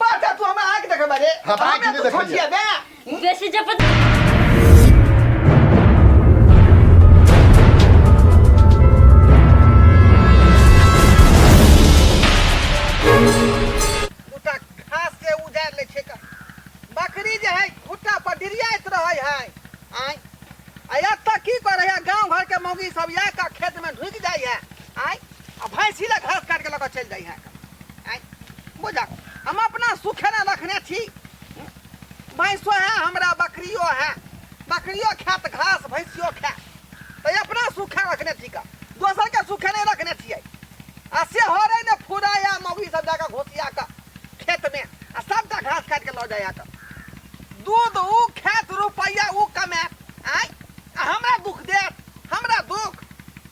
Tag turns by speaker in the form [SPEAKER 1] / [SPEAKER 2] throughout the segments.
[SPEAKER 1] पाछा तू हमरा आके देखबा रे हाँ, तऽ आँखि हमरा नहि तू देखैया। छोटिया बे बेसी जब उटा घास के उजाड़ ले छे का बकरी जे है खुट्टा पर डिरियाइत रहे है आय आया त की करे है गांव घर के मौगी सब या का खेत में ढुक जाई है आय आ भैंसी ला घास काट के लगा चल जाई है आय बुझक हम अपना सुखे ने रखने छी भैंसो है हमरा बकरियो है बकरियो खायत घास भैंसियो खाय तो अपना सुखे रखने छी का दोसर के सुखे नहीं रखने छियै आ से हो रहे ने फूरा या मौगी सब जाकर घोसिया का खेत में आ सबटा घास काट के लऽ जाया का दूध ऊ खेत रुपैया ऊ कमे आय आ हमरा दुख देत हमरा दुख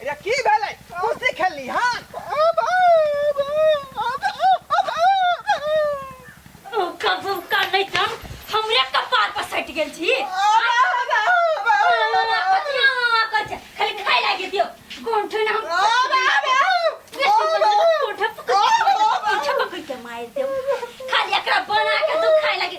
[SPEAKER 1] अरे की भेलै कुश्ती खेलली हन उका भूका नहीं जान हमरे कपार पर सट गेल छी पतिया मामा कर छै खाली खाय लागे दियो गोंठे ना हम गोंठे पकड़ गोंठे पकड़ के मार देब खाली एकरा बना के तू खाय लागे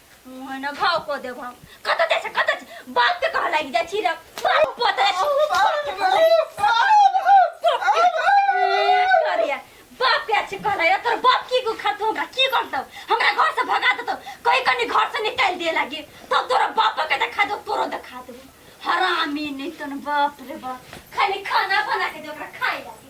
[SPEAKER 1] मोहन घाव को देब हम कत दे से कत बाप के कह लाग जा छी रे बाप पोते करिया बाप के अच्छे कहला या तोर बाप की को खत होगा की करतो हमरा घर से भगा देतो कोई कनी घर से निकाल दे लागे तब तोरा बाप के देखा दो तोरो देखा दो हरामी नहीं तन बाप रे बाप खाली खाना बना के दे ओकरा खाए लागे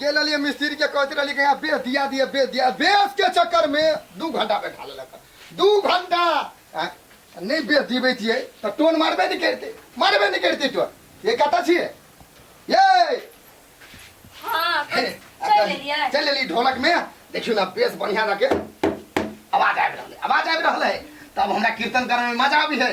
[SPEAKER 1] गेल रहलियै मिस्त्री के कहते रहलियै कि यहाँ बेच दिया दिया बेच दिया बेच के चक्कर में दू घंटा बैठा लेलक दू घंटा आ, नहीं बेच दिबे छियै तऽ टोन मारबे नहीं करते मारबे नहीं करते टोन ये कतऽ छियै ये हाँ चल लेलिए चल लेली ढोलक में देखियो ना बेस बढ़िया रखे आवाज आबि रहल है आवाज आबि रहल है तब हमरा कीर्तन करे में मजा आबी है